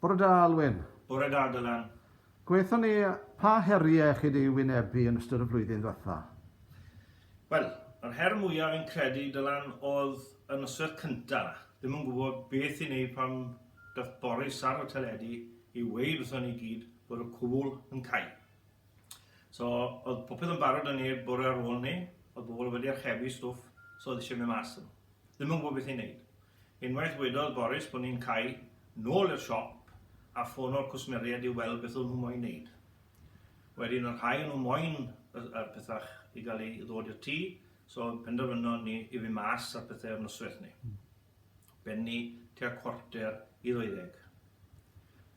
Bore da, Alwyn. Bore da, Dylan. Gwaethon ni, pa heriau chi wedi wynebu yn ystod y flwyddyn ddiwetha? Wel, yr her mwyaf fi'n credu, Dylan, oedd y nosweth cynta. Ddim yn gwybod beth i wneud pan dath Boris ar y teledu i weud wrthon ni gyd bod y cwbl yn cau. So, oedd popeth yn barod yn neb bore ar ôl ni, oedd bobl wedi archebu stwff, so oedd eisiau mynd mas. Ddim yn gwybod beth i wneud. Unwaith wedodd Boris bod ni'n cau, nôl i'r siop a ffono'r cwsmeriaid i weld beth o'n nhw moyn neud. Wedyn y rhai o'n nhw moyn y pethau i gael ei ddod i'r tŷ, so penderfynon ni i fynd mas ar pethau ar noswaith ni. Benni tua cwarter i ddeuddeg.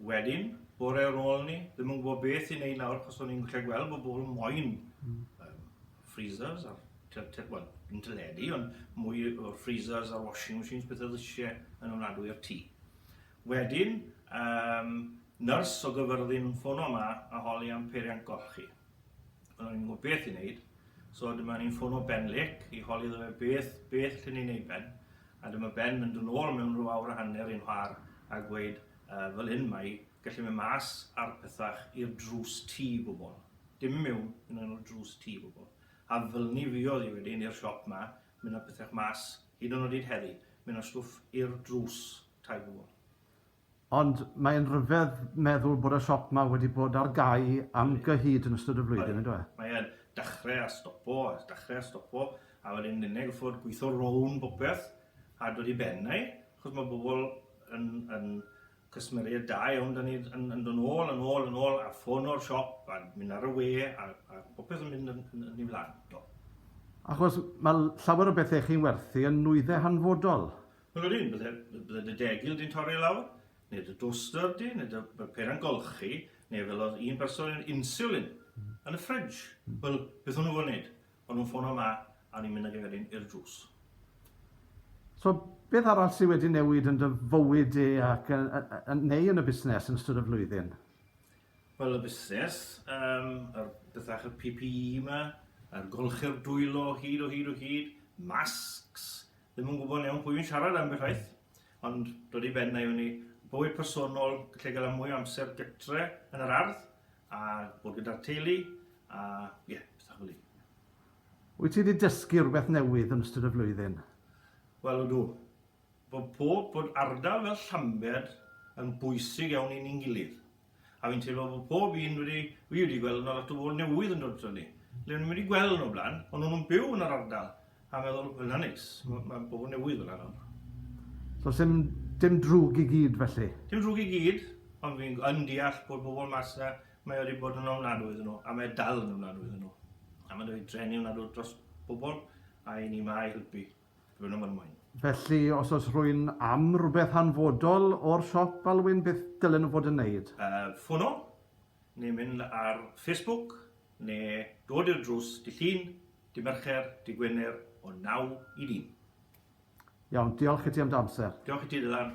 Wedyn, bore ar ôl ni, ddim yn gwybod beth i'n ei nawr, cos o'n i'n gallu gweld bod bobl moyn mm. um, freezers a'r wel, yn teledu, ond mwy o freezers a washing machines, beth oedd eisiau yn ofnadwy o'r tŷ. Wedyn, um, nyrs o gyfyrddin yn ffono yma a holi am peiriant golchi. Ond ni'n gwybod beth i wneud, so dyma ni'n ffono Ben Lake i holi ddo fe beth, beth lle ni'n ei ben. A dyma Ben mynd yn ôl mewn rhyw awr a hanner i'n nhwar a gweud, Yy, fel hyn mae, gallu mynd mas ar pethach i'r drws tŷ bobl. Dim i mewn, mynd lan i'r drws tŷ bobl. A felny fuodd hi wedyn i'r siop 'ma, mynd â pethach mas, hyd yn oed heddi, mynd â stwff i'r drws tai bobl. Ond mae'n rhyfedd meddwl bod y siop 'ma wedi bod ar gau am gyhyd yn ystod y flwyddyn, yndyw e? Mae e'n dachre a stopo, a dachre a stopo, a wedyn nenne goffod gwitho rownd bopeth a dod i ben ai, achos ma' bobol yn yn cysmeried da iawn 'da ni yn yn do' nôl a nôl a nôl a ffono'r siop a myn' ar y we a a bopeth yn mynd yn yn yn 'i flan, do. Achos ma' llawer o bethe chi'n werthu yn nwydde hanfodol. Wel yr un, bydde, bydde dy degil di'n torri lawr, neu dy dwster di, neu dy peren golchi, neu fel oedd un person yn insulin yn y ffridge. Hmm. Wel, beth o'n nhw'n gwneud? O'n nhw'n ffono ma, a ni'n mynd ag eferyn i'r drws. So, beth arall sydd wedi newid yn dy fywyd di ac yn, yn, neu yn y busnes yn ystod y flwyddyn? Wel, y busnes, um, yr bethach y PPE yma, a'r golchi'r dwylo hyd o hyd o hyd, masks, Ddim yn gwybod yn iawn pwy fi'n siarad am beth waith, ond dod i ben na i fyny. Bywyd personol, lle gael mwy o amser gytre yn yr ardd, a bod gyda'r teulu, a ie, yeah, pethau fel Wyt ti wedi dysgu rhywbeth newydd yn ystod y flwyddyn? Wel, ydw. Bod pob, bod ardal fel Llambed yn bwysig iawn i ni'n gilydd. A fi'n teimlo bod pob un wedi, fi wedi gweld yna lot o bobl newydd yn dod to ni. Le ni wedi gweld nhw blaen, ond nhw'n byw yn yr ardal. A meddwl, hwnna neis, mae ma bobl newydd fel yna. So sy'n dim drwg i gyd felly? Dim drwg i gyd, ond fi'n yn deall bod bobl mas yna, mae wedi bod yn ofnadwy iddyn nhw, a mae dal yn ofnadwy iddyn nhw. A mae'n dweud trenu ofnadwy dros bobl, a i ni mae helpu. Rwy'n ymrwy'n. Felly, os oes rhywun am rhywbeth hanfodol o'r siop, Alwyn, beth dylen nhw fod yn wneud? Ffono, neu mynd ar Facebook, neu dod i'r drws dydd Llun, dydd Mercher, dydd Gwener o naw i dîm. Iawn, diolch i ti am dy amser. Diolch i ti, Dylan.